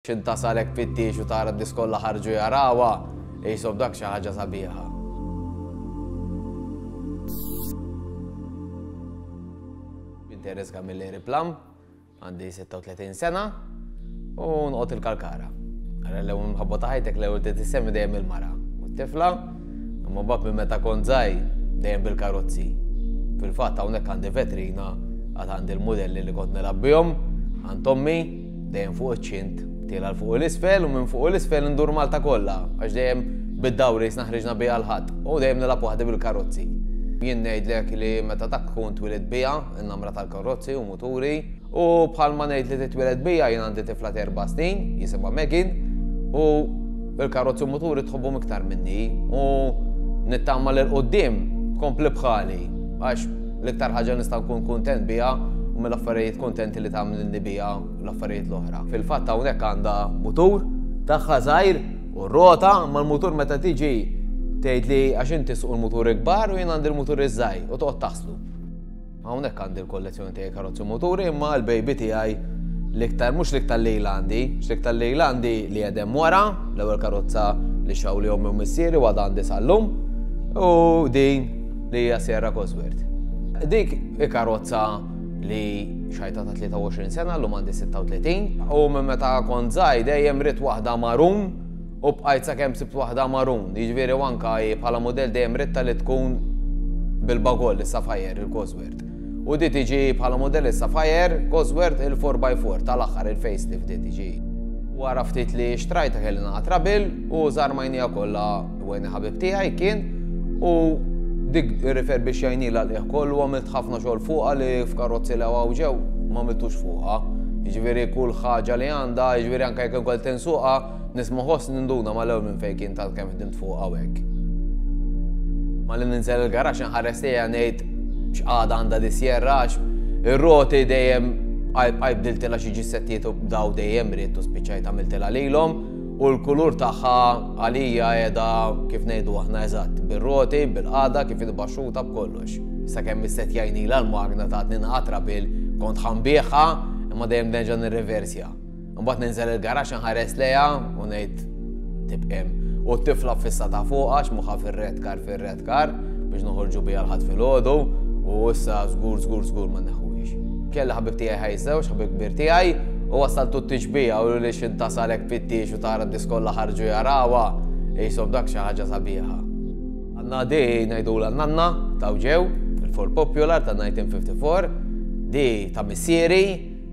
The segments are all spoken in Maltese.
X'int tasal hekk fit-tiex u tara d-nies kollha ħarġu jarawha, ihsob dak xi ħaġa sabiħa. Jien Teres Camilleri Plam, għandi 36 sena u nqgħod il-Kalkara. Ara l-ewwel mħabba ta' ħajtek l-ewwel trid issemmi dejjem il-mara u t-tifla, imma bab minn meta kont żgħir dejjem bil-karozzi. Fil-fatt hawnhekk għandi vetrina għad għandi l-mudelli li kont nilgħab bihom għand ommi Dejjem fuq iċ-ċint, tilgħal fuq u l-isfel u minn fuq u l-isfel indur Malta kollha, għax dejjem bid-dawri snaħriġna biha l-ħadd u dejjem nilgħab waħdi bil-karozzi. Jien ngħidlek li meta dak tkun twilid biha, in-namra tal-karozzi u muturi, u bħalma ngħid li titwiled biha jien għandi tifla terba' snin, jisimha Megin, u l-karozzi u muturi tħobbu iktar minni u nittama l qoddim kompli bħali għax L-iktar ħaġa nista' nkun kuntent biha huma l-affarijiet kuntenti li tagħmlilni biha l-affarijiet l-oħra. Fil-fatt hawnhekk għandha mutur tagħha żgħir u rota imma l-mutur meta tiġi tgħidli għax inti suq il-mutur ikbar u jien għandi l-mutur iż-żgħir u toqgħod taħslu. Hawnhekk għandi l-kollezzjoni tiegħi karozzi muturi imma l-baby tiegħi l-iktar mhux l-iktar lejl għandi, l-iktar lejl għandi li jedem wara, l-ewwel karozza li xaw li ommi u missieri u għadha għandi sal-lum u din li hija Sierra Cosworth. Dik hi karozza li xajta ta' 23 sena l-lum għandi 36 u minn meta kont żgħir dejjem rid waħda marun u bqajt sakemm sibt waħda marun. Jiġifieri anka bħala mudell dejjem ridta li tkun bil-bagol is-Sapphire il-Cosworth. U di tiġi bħala mudell is-Sapphire Cosworth il-4x4 tal-aħħar il-facelift di tiġi. Wara ftit li xtrajta kelli naqgħad rabil u żarmajnija kollha Wayne ħabib tiegħi kien u dik irrifer biex jajnila liħ kollu għamilt ħafna xogħol fuqha li f'karozzi li għaw ġew ma għamiltux fuqha. Ġviri kull ħaġa li għandha, ġviri anke jekk ukoll tinsuqa, nisma' ħoss ninduna ma l-ewwel minn fejn kien tal-kemm ħdimt fuq hawnhekk. Ma li ninżel il-garax inħares li ngħid x'qagħda għandha disjerrax, ir-roti dejjem għajb diltilha xi ġissettijiet u daw dejjem ried u spiċċajt għamiltilha lilhom. U l-kulur tagħha għalija qiegħda kif ngħidu aħna eżatt, bir-roti, bil-qagħda, kif inhi baxxuta b'kollox. Sakemm is-set jgħinilha l-magna tagħtni nqatra bil kont ħa nbiegħha imma dejjem nerġa' nirreversja. Imbagħad ninżel il-garaxx inħares lejha u ngħid tibqem. U t-tifla fissatha fuqha x'moħħha fir-red kar fir Kar biex noħorġu bija l-ħadd filgħodu u issa żgur żgur żgur ma neħuhiex. Kelli ħabib tiegħi ħaj żewġ, ħabib kbir tiegħi, u wasaltu t-tixbija u li xintasalek fittix u tara diskolla ħarġu jarawa, jisob dak xi ħaġa sabiħa. Għanna di ngħidu l nanna ta' ġew, il-for popular ta' 1954, di ta' missieri,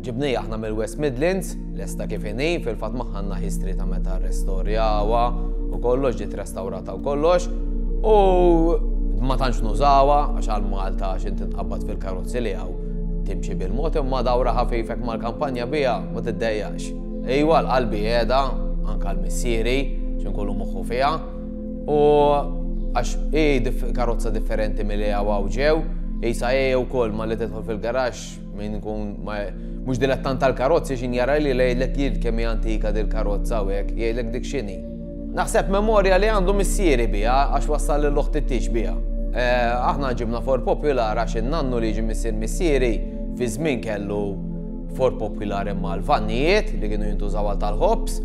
Ġibniha aħna mill-West Midlands, lesta kif inhi, fil-fatt magħha għandna history ta' meta rrestorjawha u kollox ġiet restawrata u kollox. U ma tantx nużawha għax għal Malta x'in tinqabad fil-karozzi li hawn timxi bil-mod imma dawra ħafifek mal-kampanja biha ma tiddejjax. Ejwa l-qalbi qiegħda anke l-missieri x'inkunu moħħu fiha u għax hi karozza differenti milli hawn ġew, isa hi wkoll ma li tidħol fil-garax Min kun mhux dilettant tal-karozzi xin jara li lejlek jil kemm hija antika dil karozza u hekk, jgħidlek dik x'inhi. Naħseb memorja li għandu missieri biha għax wassal lil oħti t-tix biha. Eh, aħna ġibna Ford Popular għax in-nannu li ġi missier missieri fi żmien kellu Ford Popular imma l-vannijiet li kienu jintużaw għal tal-ħobs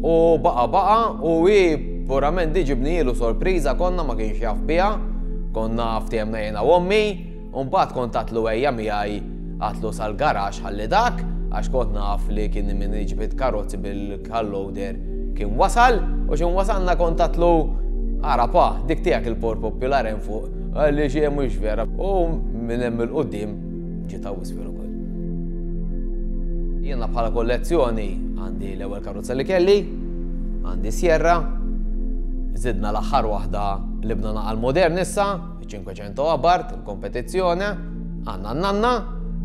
u baqa baqa u hi purament diġibni jilu sorpriża konna ma kienx jaf biha, konna ftehemna jena u ommi, U mbagħad kont għatlu ejja miegħi għatlu sal-garax ħalli dak għax kont naf li kien min iġbid karozzi bil-kalloader kien wasal u xi wasalna kont għatlu ara pa dik tiegħek il-por popular hemm fuq għalli xi hemm mhux vera u minn hemm il-qudiem ġiet wisfir ukoll. Jiena bħala kollezzjoni għandi l-ewwel karozza li kelli, għandi Sierra, zidna l-aħħar waħda li bna naqal modern issa, 500 abart, il-kompetizzjoni, għandna n-nanna,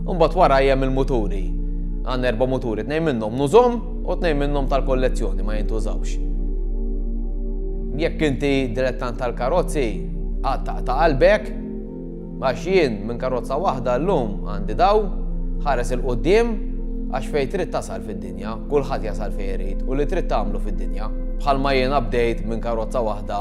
u mbagħad wara hemm il-muturi. Għandna erba' muturi, tnejn minnhom nużhom u tnejn minnhom tal-kollezzjoni ma jintużawx. Jekk inti dilettant tal-karozzi, għatta ta' qalbek, għax jien minn karozza waħda llum għandi daw, ħares il-qoddim, għax fej trid tasal fid-dinja, kulħadd jasal fej irid u li trid tagħmlu fid-dinja. Bħalma jiena bdejt minn karozza waħda